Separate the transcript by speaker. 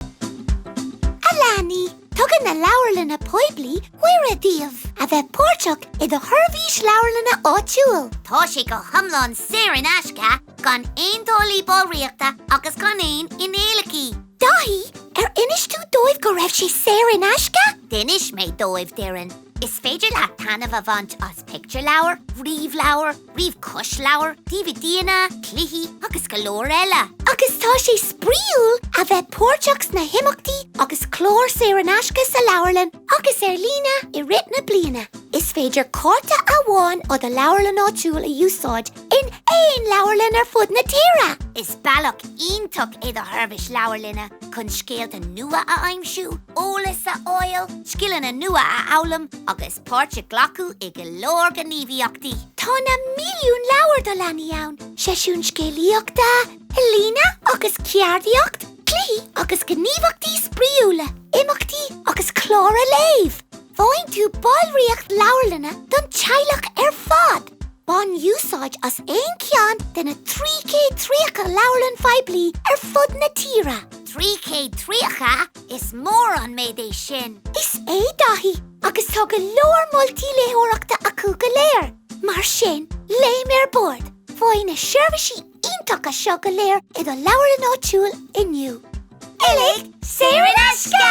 Speaker 1: A leanaí, tugann na Leabharlanna Poiblí cuireadh daoibh a bheith páirteach i do sheirbhís leabharlainne áitiúil. Tá sé go hiomlán
Speaker 2: saor in aisce, gan aon táillí ballraíochta agus gan aon fhíneálacha.
Speaker 1: Daithí, Ar inis tú dóibh go raibh sé saor in aisce? D'inis mé dóibh,
Speaker 2: Doireann. Is féidir leat taitneamh a bhaint as pictiúrleabhair, ríomhleabhair, ríomh-chlosleabhair, DVDanna, cluichí agus go leor eile. Agus tá
Speaker 1: sé spraíúil a bheith páirteach sna himeachtaí agus cláir saor in aisce sa leabharlann agus ar líne i rith na bliana. Is féidir cárta amháin ó do leabharlann áitiúil a úsáid in aon leabharlann ar fud na tíre. Is
Speaker 2: bealach iontach é do sheirbhís leabharlainne chun scéalta nua a aimsiú, eolas a fháil, scileanna nua a fhoghlaim agus páirt a ghlacadh i go leor gníomhaíochtaí. Tá
Speaker 1: na milliúin leabhar do leanaí ann, seisiúin scéalaíochta, ealaín agus ceardaíocht, cluichí agus gníomhaíochtaí spraíúla, imeachtaí agus cláir a léamh. Faigheann tú ballraíocht leabharlainne don teaghlach ar fad. Bain úsáid as aon cheann de na 330 leabharlann phoiblí ar fud na tíre.
Speaker 2: 330? Is mór an méid é sin! Is ea, Daithí.
Speaker 1: Agus tá go leor moltaí léitheoireachta acu go léir, mar sin, léim ar bord! Faigh na seirbhísí iontacha seo go léir i do leabharlann áitiúil
Speaker 2: inniu.
Speaker 1: Uilig saor in aisce!